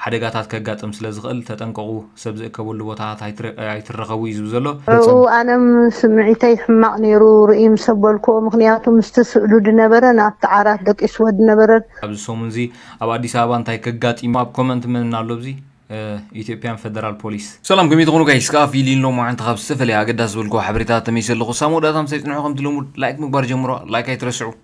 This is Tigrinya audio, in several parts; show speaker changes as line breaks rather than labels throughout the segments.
ሓደጋታት ከጋጥም ስለ ዝኽእል ተጠንቀቑ፣ ሰብ ዝእከበሉ ቦታታት ኣይትረኸቡ እዩ ዝብል ዘሎ። ኣብኡ ኣነ
ስምዒተይ ሕማቕ ነይሩ ርእይ ምስ ኣበልክዎ፣ ምኽንያቱ ምስቲ ስእሉ ዝነበረን ኣብቲ ዓራት ደቂስዎ ዝነበረን። ኣብዚ ሰሙን እዚ
ኣብ ኣዲስ ኣበባ እንታይ ከጋጢም እዩ ኣብ ኮመንት መን ኣሎ ኣብዚ ኢትዮጵያን ፈደራል ፖሊስ። ሰላም ከመይ ትኾኑ ጋይስ ከኣ ፊሊን ሎማዓንቲ ካብ ዝተፈለየ ኣገዳሲ ዝበልክዎ ሓበሬታታት ተመሊሰ ኣለኹ ሳሙኡ ዳታ ምሳይ ጽንሑ ከምቲ ልሙድ ላይክ ምግባር ጀምሩዋ ላይክ ኣይትረስዑ።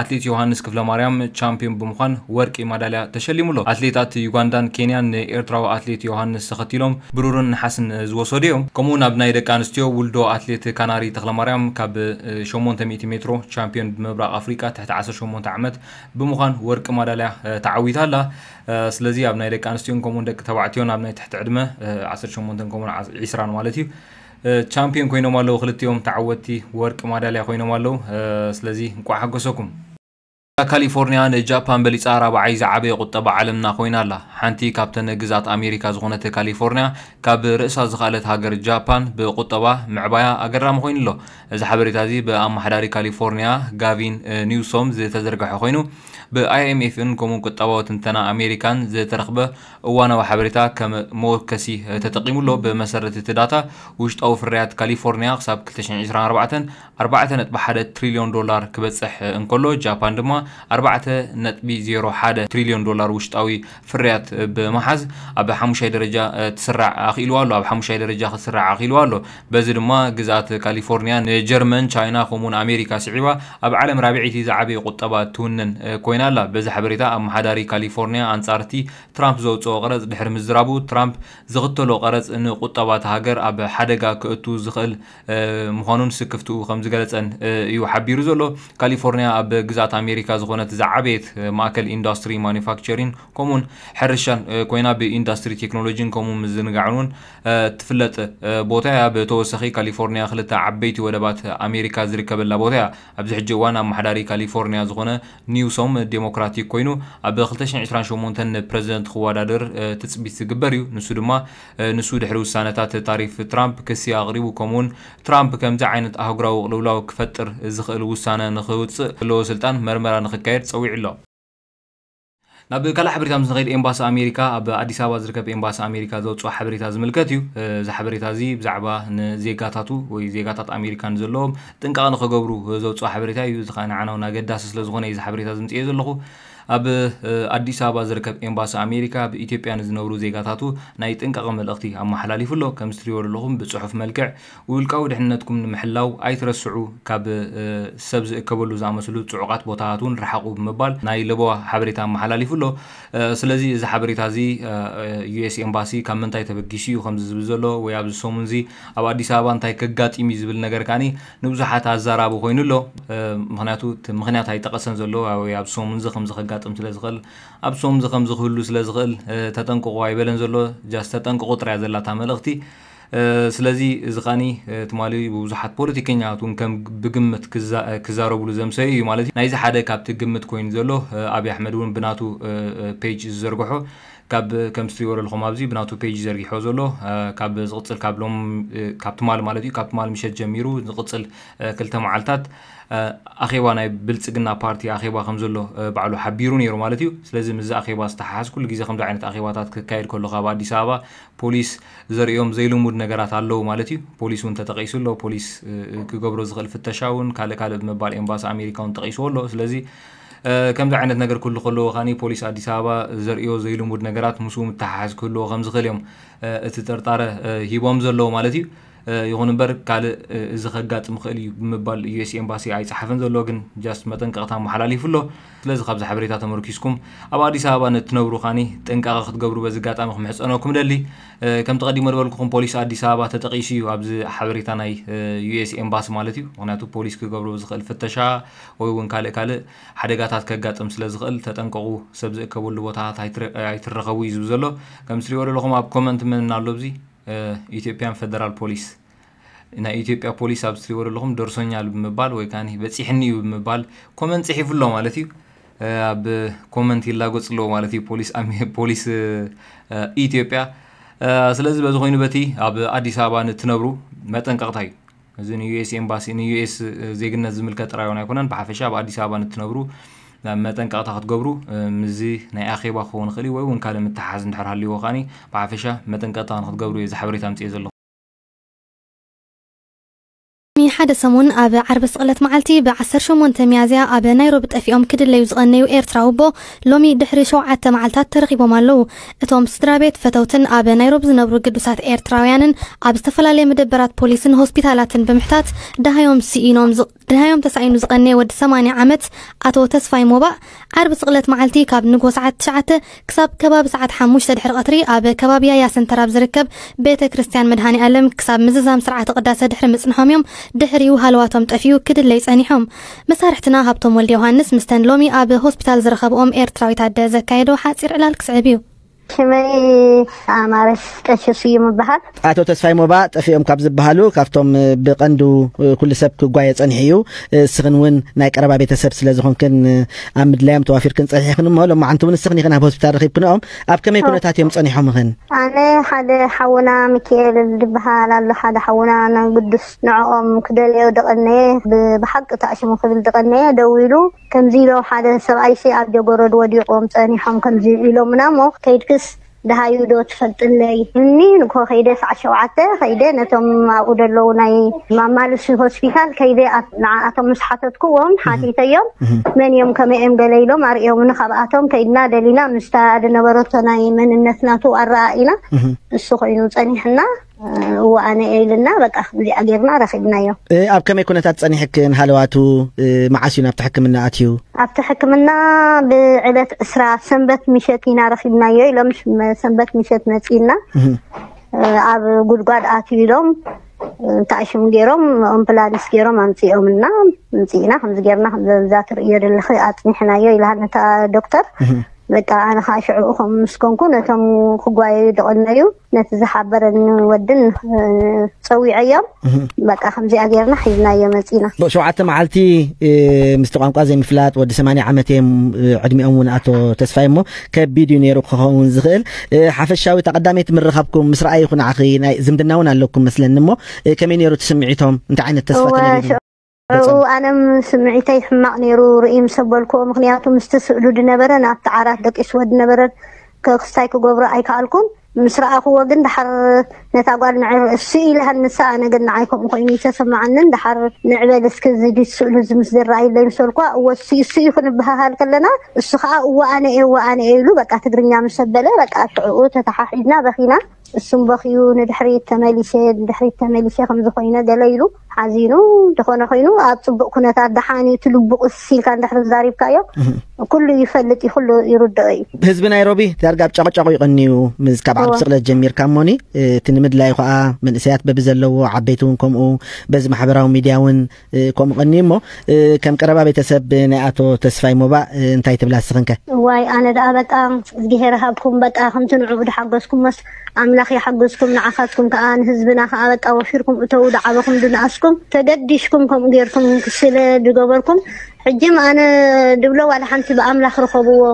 ኣትሌት ዮሃንስ ክፍለማርያም ቻምፒዮን ብምዃን ወርቂ ማዳልያ ተሸሊሙ ኣሎ። ኣትሌታት ዩጋንዳን ኬንያን ንኤርትራዊ ኣትሌት ዮሃንስ ተኸቲሎም ብሩርን ነሓስን ዝወሰዱ እዮም። ከምኡ'ውን ኣብ ናይ ደቂ ኣንስትዮ ውልዶ ኣትሌት ካናሪ ተኽለማርያም ካብ ሸሞንተ ሚእቲ ሜትሮ ቻምፒዮን ብምብራቕ ኣፍሪቃ ትሕቲ ዓሰርተ ሸሞንተ ዓመት ብምዃን ወርቂ ማዳልያ ተዓዊታ ኣላ። ስለዚ ኣብ ናይ ደቂ ኣንስትዮን ከምኡ'ውን ደቂ ተባዕትዮን ኣብ ናይ ትሕቲ ዕድመ ዓሰርተ ሸሞንተን ከምኡ'ውን ዒስራን ማለት እዩ ቻምፒዮን ኮይኖም ኣለዉ ክልቲኦም ተዓወትቲ ወርቂ ማዳልያ ኮይኖም ኣለዉ ስለዚ እንቋዕ ሓጎሰኩም እታ ካሊፎርኒያ ንጃፓን በሊጻ ራብዓይ ዝዓበየ ቁጠባ ዓለምና ኮይና ኣላ ሓንቲ ካብተን ግዝኣት ኣሜሪካ ዝኾነት ካሊፎርኒያ ካብ ርእሳ ዝኸኣለት ሃገር ጃፓን ብቁጠባ ምዕባያ ኣገራሚ ኮይኑ ኣሎ እዚ ሓበሬታ እዚ ብኣመሓዳሪ ካሊፎርኒያ ጋቪን ኒውሶም ዝተዘርግሐ ኮይኑ ብኣይኤምኤፍን ከምኡ ቁጠባዊ ትንተና ኣሜሪካን ዝተረኽበ እዋናዊ ሓበሬታ ከም መወከሲ ተጠቒሙ ኣሎ፣ ብመሰረት እቲ ዳታ፣ ውሽጣዊ ፍርያት ካሊፎርንያ ክሳብ ክልተ ሽሕ ዕስራን ኣርባዕተን ኣርባዕተ ነጥቢ ሓደ ትሪልዮን ዶላር ክበጽሕ እንከሎ፣ ጃፓን ድማ ኣርባዕተ ነጥቢ ዜሮ ሓደ ትሪልዮን ዶላር ውሽጣዊ ፍርያት ብምሓዝ ኣብ ሓሙሻይ ደረጃ ትስራዕ ኣኽኢልዋ ኣሎ ኣብ ሓሙሻይ ደረጃ ክትስራዕ ኣኽኢልዋ ኣሎ። በዚ ድማ ግዝኣት ካሊፎርኒያ ንጀርመን፣ ቻይና ከምኡ'ውን ኣሜሪካ ስዒባ ኣብ ዓለም ራብዐይቲ ዝዓበየ ቁጠባ እትውንን ኮይና ኣላ። በዚ ሓበሬታ ኣመሓዳሪ ካሊፎርኒያ ኣንጻር'ቲ ትራምፕ ዘውጽኦ ቀረጽ ድሕሪ ምዝራቡ፣ ትራምፕ ዝኽተሎ ቀረጽ ንቁጠባ'ታ ሃገር ኣብ ሓደጋ ከእቱ ዝኽእል ምዃኑን ስክፍትኡ ከምዝገለጸን እዩ ሓቢሩ ዘሎ። ካሊፎርኒያ ኣብ ግዝኣት ኣሜሪካ ዝኾነት ዝዓበየት ማእከል ኢንዳስትሪ ማኑፋክቸሪን ከምኡ'ውን ሕርሻን ኮይና ብኢንዳስትሪ ቴክኖሎጂን ከምኡ ምዝንጋዕን'ውን እትፍለጥ ቦታ እያ። ብተወሳኺ ካሊፎርኒያ ክልተ ዓበይቲ ወደባት ኣሜሪካ ዝርከበላ ቦታ እያ። ኣብዚ ሕጂ እዋን ኣመሓዳሪ ካሊፎርኒያ ዝኾነ ኒውሶም ዴሞክራቲክ ኮይኑ ኣብ ክልተ ሽሕን ዕስራን ሸሞንተን ንፕረዚደንት ክወዳደር ትፅቢት ዝግበር እዩ። ንሱ ድማ ንሱ ድሕሪ ውሳነታት ታሪፍ ትራምፕ ክሲ ኣቕሪቡ ከምኡ እውን ትራምፕ ከምዚ ዓይነት ኣህጉራዊ ቅልውላው ክፈጥር ዝኽእል ውሳነ ንኽውፅእ ዘለዎ ስልጣን መርመራ ንኽካየድ ፀዊዑ ኣሎ። ናብ ካልእ ሓበሬታ ምስ ንኸይድ ኤምባሲ ኣሜሪካ ኣብ ኣዲስ ኣበባ ዝርከብ ኤምባሲ ኣሜሪካ ዘውፅኦ ሓበሬታ ዝምልከት እዩ። እዚ ሓበሬታ እዚ ብዛዕባ ንዜጋታቱ ወይ ዜጋታት ኣሜሪካ ንዘለዎም ጥንቃቐ ንኸገብሩ ዘውፅኦ ሓበሬታ እዩ። እዚ ከዓ ንዓና እውን ኣገዳሲ ስለ ዝኾነ እዩ እዚ ሓበሬታ እዚ ምፅኤ ዘለኹ። ኣብ ኣዲስ ኣበባ ዝርከብ ኤምባሲ ኣሜሪካ ኣብ ኢትዮጵያ ንዝነብሩ ዜጋታቱ ናይ ጥንቃቐ መልእኽቲ ኣመሓላሊፉ ኣሎ። ከምዚ ትሪእዎ ዘለኹም ብፅሑፍ መልክዕ ውልቃዊ ድሕንነትኩም ንምሕላው ኣይትረስዑ፣ ካብ ሰብ ዝእከበሉ ዝኣመሰሉ ጽዑቓት ቦታታት እውን ርሓቑ ብምባል ናይ ለበዋ ሓበሬታ ኣመሓላሊፉ ኣሎ። ስለዚ እዚ ሓበሬታ እዚ ዩኤስ ኤምባሲ ካብ ምንታይ ተበጊሱ እዩ ከምዚ ዝብል ዘሎ ወይ ኣብዚ ሰሙን እዚ ኣብ ኣዲስ ኣበባ እንታይ ከጋጢም እዩ ዝብል ነገር ከኣ ንብዙሓት ኣዛራቢ ኮይኑ ኣሎ። ምኽንያቱ እቲ ምኽንያት ኣይጠቐሰን ዘሎ ወይ ኣብዚ ሰሙን እዚ ከምዚ ከጋጥም ስለ ዝኽእል ኣብዚ ሰሙን እዚ ከምዚ ክህሉ ስለ ዝኽእል ተጠንቀቑ ኣይበለን ዘሎ ጃስት ተጠንቀቑ ጥራይ እያ ዘላ እታ መልእኽቲ። ስለዚ እዚ ከኣ ትማሊ ብብዙሓት ፖለቲከኛታት እውን ከም ብግምት ክዛረብሉ ዘምሰዩ እዩ ማለት እዩ። ናይዚ ሓደ ካብቲ ግምት ኮይኑ ዘሎ ኣብይ ኣሕመድ እውን ብናቱ ፔጅ ዝዘርገሖ ካብ ከምቲ ትሪእዎ ዘለኹም ኣብዚ ብናቱ ፔጅ እዩ ዘርጊሕዎ ዘሎ ካብ ዝቕፅል ካብ ሎም ካብ ትማሊ ማለት እዩ ካብ ትማሊ ምሸት ጀሚሩ ዝቕፅል ክልተ መዓልታት ኣኼባ ናይ ብልፅግና ፓርቲ ኣኼባ ከም ዘሎ ባዕሉ ሓቢሩ ነይሩ ማለት እዩ። ስለዚ ምስዚ ኣኼባ ዝተሓሓዝ ኩሉ ግዜ ከምዚ ዓይነት ኣኼባታት ክካየድ ከሎ ካብ ኣዲስ ኣበባ ፖሊስ ዘርእዮም ዘይልሙድ ነገራት ኣለዉ ማለት እዩ። ፖሊስ እውን ተጠቒሱ ኣሎ። ፖሊስ ክገብሮ ዝኽእል ፍተሻ እውን ካልእ ካልእ ብምባል ኤምባሲ ኣሜሪካ እውን ጠቒስዎ ኣሎ። ስለዚ ከምዚ ዓይነት ነገር ክህሉ ከለዎ ከኣ ፖሊስ ኣዲስ ኣበባ ዘርእዮ ዘይልሙድ ነገራት ምስኡ ምትሕሓዝ ክህልዎ ከም ዝኽእል እዮም እቲ ጥርጣረ ሂቦም ዘለዉ ማለት እዩ። ይኹን እምበር ካልእ እዚ ከጋጥም ይኽእል እዩ ብምባል ዩኤስ ኤምባሲ ኣይጸሓፈን ዘሎ ግን ጃስት መጠንቀቕታ ኣመሓላሊፉ ኣሎ። ስለዚ ካብዚ ሓበሬታ ተመርኲስኩም ኣብ ኣዲስ ኣበባ ንእትነብሩ ካኒ ጥንቃቐ ክትገብሩ በዚ ኣጋጣሚ ክምሕጸነኩም እደሊ። ከምቲ ቀዲመ ዝበልኩኹም ፖሊስ ኣዲስ ኣበባ ተጠቒሱ እዩ ኣብዚ ሓበሬታ ናይ ዩኤስ ኤምባሲ ማለት እዩ። ምኽንያቱ ፖሊስ ክገብሮ ብዝኽእል ፍተሻ ወይ እውን ካልእ ካልእ ሓደጋታት ከጋጥም ስለ ዝኽእል ተጠንቀቑ ሰብ ዝእከበሉ ቦታታት ኣይትረከቡ እዩ ዝብል ዘሎ። ከምቲ ትሪእዎ ዘለኹም ኣብ ኮመንት መን ኣሎ ኣብዚ? ኢትዮጵያን ፈደራል ፖሊስ ናይ ኢትዮጵያ ፖሊስ ኣብ ትሪእዎ ዘለኹም ደርሶኛል ብምባል ወይ ከዓ በፂሕኒ እዩ ብምባል ኮመንት ፅሒፉ ኣሎ ማለት እዩ ኣብ ኮመንት ይላጎፅ ኣለዎ ማለት እዩ ፖሊስ ፖሊስ ኢትዮጵያ ስለዚ በዚ ኮይኑ በቲ ኣብ ኣዲስ ኣበባ ንትነብሩ መጠንቀቕታ እዩ እዚ ንዩኤስ ኤምባሲ ንዩኤስ ዜግነት ዝምልከት ጥራይ እውን ኣይኮነን ብሓፈሻ ኣብ ኣዲስ ኣበባ ንትነብሩ መጠንቀቕታ ክትገብሩ ምዚ ናይ ኣኼባ ክኸውን ይኽእል ወይ እውን ካልእ ምትሓሓዝ እንድሕር ሃልይዎ ከዓኒ ብሓፈሻ መጠንቀቕታ ንክትገብሩ እዩ ዝሓበሬታ ኣምፅኤ ዘለኹ
ቅድሚ ሓደ ሰሙን ኣብ ዓርቢ ስቕለት መዓልቲ ብ ዓሰርተ ሸሞንተ ሚያዝያ ኣብ ናይሮቢ ጠፊኦም ክድለዩ ዝቐነዩ ኤርትራዊ ኣቦ ሎሚ ድሕሪ ሸውዓተ መዓልታት ተረኺቦም ኣለዉ። እቶም ስድራቤት፣ ፈተውትን ኣብ ናይሮቢ ዝነብሩ ግዱሳት ኤርትራውያንን ኣብ ዝተፈላለየ መደበራት ፖሊስን ሆስፒታላትን ብምሕታት ደሃዮም ስኢኖም ዝቕ ደሃዮም ተሳኢኑ ዝቐነየ ወዲ ሰማንያ ዓመት ኣቶ ተስፋይ ሞባእ ዓርቢ ስቕለት መዓልቲ ካብ ንግሆ ሰዓት ትሽዓተ ክሳብ ከባቢ ሰዓት ሓሙሽተ ድሕሪ ቐትሪ ኣብ ከባቢ ያያ ሰንተር ኣብ ዝርከብ ቤተ ክርስቲያን መድሃኔኣለም ክሳብ ምዝዛም ስርዓተ ቅዳሰ ድሕሪ ምጽንሖም እዮም ድሕሪኡ ሃለዋቶም ጠፊኡ ክድለዩ ጸኒሖም መሳርሕትና ሃብቶም ወልደዮሃንስ ምስተን ሎሚ ኣብ ሆስፒታል ዝረኸብኦም ኤርትራዊት ኣደ ዘካየዶ ሓጺር ዕላል ክስዕብ እዩ። ሽመይ
ኣማረስ ቀሺ ስዩም እበሃል። ኣቶ ተስፋይ ሞባ
ጠፊኦም ካብ ዝበሃሉ ካብቶም ብቐንዱ ኩሉ ሰብ ክጓየ ጸኒሑ እዩ። እስኽን እውን ናይ ቀረባ ቤተሰብ ስለ ዝኾንክን ኣብ ምድላዮም ተዋፊርክን ጸኒሕኽን እሞ ሎማዓንቲ እውን እስኽን ኢኽን ኣብ ሆስፒታል ረኺብክንኦም ኣብ ከመይ ኩነታት እዮም ጸኒሖምኽን? ኣነ ሓደ
ሓውና ሚኪኤል ዝበሃል ኣሎ ሓደ ሓውና ናይ ግዱስ ንዕኦም ክደልዮ ድቐነየ፣ ብሓቂ ተኣሽሙ ክብል ድቐነየ፣ ደው ኢሉ ከምዚ ኢሎም፣ ሓደ ሰብኣይሲ ኣብ ጀጎረድ ወዲቖም ጸኒሖም ከምዚ ኢሎሙናሞ ከይድክስ ደሃዩዶ ትፈልጥለይ እኒ ንግሆ ከይደ ሰዓት ሸውዓተ ከይደ ነቶም ኣብኡ ደለዉ ናይ ማማልሲ ሆስፒታል ከይደ ንዓኣቶም ምስ ሓተትኩዎም ሓቲተዮም መን እዮም ከመይ እዮም ገለ ኢሎም ኣርእዮምኒ ካብኣቶም ከይድና ደሊና ምስታ ድነበረቶ ናይ መንነት ናቱ ኣረኣኢና ንሱ ኮይኑ ጸኒሕና ወኣነ ኢልና በቃ እዚኣ ጌርና ረኺብናዮ። ኣብ ከመይ ኩነታት
ጸኒሕክን ሃለዋቱ መዓስ እዩ ናብቲ ሕክምና ኣትዩ? ኣብቲ ሕክምና
ብዕለት ዕስራ ሰንበት ምሸት ኢና ረኺብናዮ ኢሎም ሰንበት ምሸት መጺእና ኣብ ጉድጓድ ኣትዩ ኢሎም እንታይ ሽም ገይሮም ኣምፕላንስ ገይሮም ኣምፂኦምና ምፅኢና ከምዚ ገይርና ከምዛ ትርእዮ ዘለኺ ኣፅኒሕናዮ ኢልሃን እታ ዶክተር በቃ ኣነ ከዓ ሽዑ ከም ምስ ኮንኩ ነቶም ክጓየዩ ዝቐነዩ ነቲ ዝሓበረኒ ወድን እ፣ ፀዊዐዮም በቃ ከምዚኣ ጌርና ሒዝናዮ መፂና ብ- ሸውዓተ መዓልቲ
እ፣ ምስቲ ቋንቋ ዘይምፍላጥ ወዲ 80 ዓመት እዮም እ፣ ዕድሚኦም እውን ኣቶ ተስፋይ እሞ ከቢድ እዩ ነይሩ ክኸውን ዝኽእል እ፣ ሓፈሻዊ እታ ቀዳመይቲ ምርኻብኩም ምስ ረኣይ ይኹን ዓኺ ናይ ዝምድና እውን ኣለኩም መስለኒ እሞ እ፣ ከመይ ነይሩ እቲ ስምዒቶም እንታይ ዓይነት ተስፋ እወ፣ ተነቢሩ እው ኣነም
ስምዒተይ ሕማቅ ነይሩ ርእይ ምሰ በልክዎ ምክንያቱ ምስቲ ስእሉ ድነበረን ኣብቲ ዓራት ደቂስወ ድነበረን ክስታይ ክገብሮ ኣይከኣልኩን ምስ ረኣክዎ ግን ደሓር ነታ ጓል ንዕር እሱ ኢለ ሃንሰ ኣነ ግን ንዓይ ከምኡ ኮይኑ ይተሰማዓንን ደሓር ንዕበል እስኪ እዚ ዲት ስእሉ እዚ ምስ ዝረኣይለይ ምስ በልክዋ እወ እሱ እሱ እዩ ክንበሃሃል ከለና እሱ ከዓ እወ ኣነ እየ እወ ኣነ እየ ኢሉ በቃ ትግርኛ ምሰ በለ በቃ ሽዕኡ ተተሓሒዝና በኪና እሱም በኪዩ ንድሕሪት ተመሊሰ ንድሕሪት ተመሊሰ ከምዚ ኮይነ ገለ ኢሉ ሓዚኑ ዝኾነ ኮይኑ ኣብ ፅቡቅ ኩነታት ደሓን እዩ ትልቡ ቁስ ኢልካ እንድሕር ዛሪብካዮ ኩሉ ይፈልጥ እዩ ኩሉ ይርድኦ እዩ ህዝቢ ናይሮቢ ዳርጋ
ኣብ ጫቕጫቑ ይቐንዩ ምስ ካብ ዓርቢ ስቕለት ጀሚርካ እሞኒ እቲ ንምድላዩ ከዓ መንእሰያት በቢ ዘለዎ ዓበይቲ እውን ከምኡ በዚ ማሕበራዊ ሚድያ እውን እ፣ ከምኡ ቀንዩ እሞ እ፣ ከም ቀረባ ቤተሰብ ናይ ኣቶ ተስፋይ ሞባ እ፣ እንታይ ትብላ ስኽንከ እዋይ ኣነ ደኣ
በቃ እግዚኣብሄር ሃብኩም በቃ ከምቲ ንዕኡ ድሓገዝኩም መስ ኣምላኽ ይሓግዝኩም ንዓኻትኩም ከኣ ንህዝብና ከኣ በቃ ወፊርኩም እተዉ ድዓበኹም ድንኣስኩም ተገዲሽኩም ከምኡ ጌርኩም ስለ ድገበርኩም ሕጂም ኣነ ድብሎ ዋላ ሓንቲ ብኣምላኽ ርኸብዎ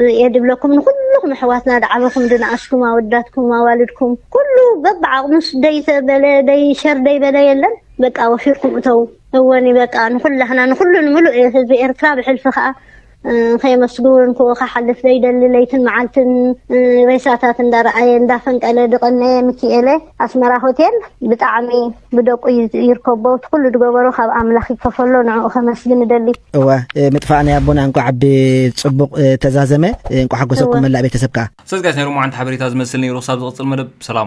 እየ ድብለኩም ንኹሉኹም ኣሕዋትና ድዓበኹም ድንኣስኩም ኣወዳትኩም ኣዋልድኩም ኩሉ በብዓቕሙስ ደይ ተበለ ደይ ሸር ደይ በለ የለን በቃ ወፊርኩም እተዉ እወኒ በቃ ንኹላህና ንኹሉ ንምሉእ ህዝቢ ኤርትራ ብሕልፊ ከኣ ከየመስግን እንኮ ክሓልፍ ዘይደሊ ለይትን መዓልትን ሬሳታት እንዳረኣየ እንዳፈንቀለ ድቀነየ ምኪኤለ ኣስመራ ሆቴል ብጣዕሚ ብደቁ ይርከቦ እቲ ኩሉ ድገበሮ ካብ ኣምላኽ ይከፈሎ ንዕኡ ከመስግን እደሊ እወ ምጥፋእ
ናይ ኣቦና እንቋዕ ብጽቡቕ ተዛዘመ እንቋዕ
ሓጎሰኩም መላእ ቤተሰብ ከኣ
ሰዚ
ጋይስ ናይ ሎማዓንቲ
ሓበሬታ
ዝመስል ነይሩ
ክሳብ
ዝቕጽል
መደብ
ሰላም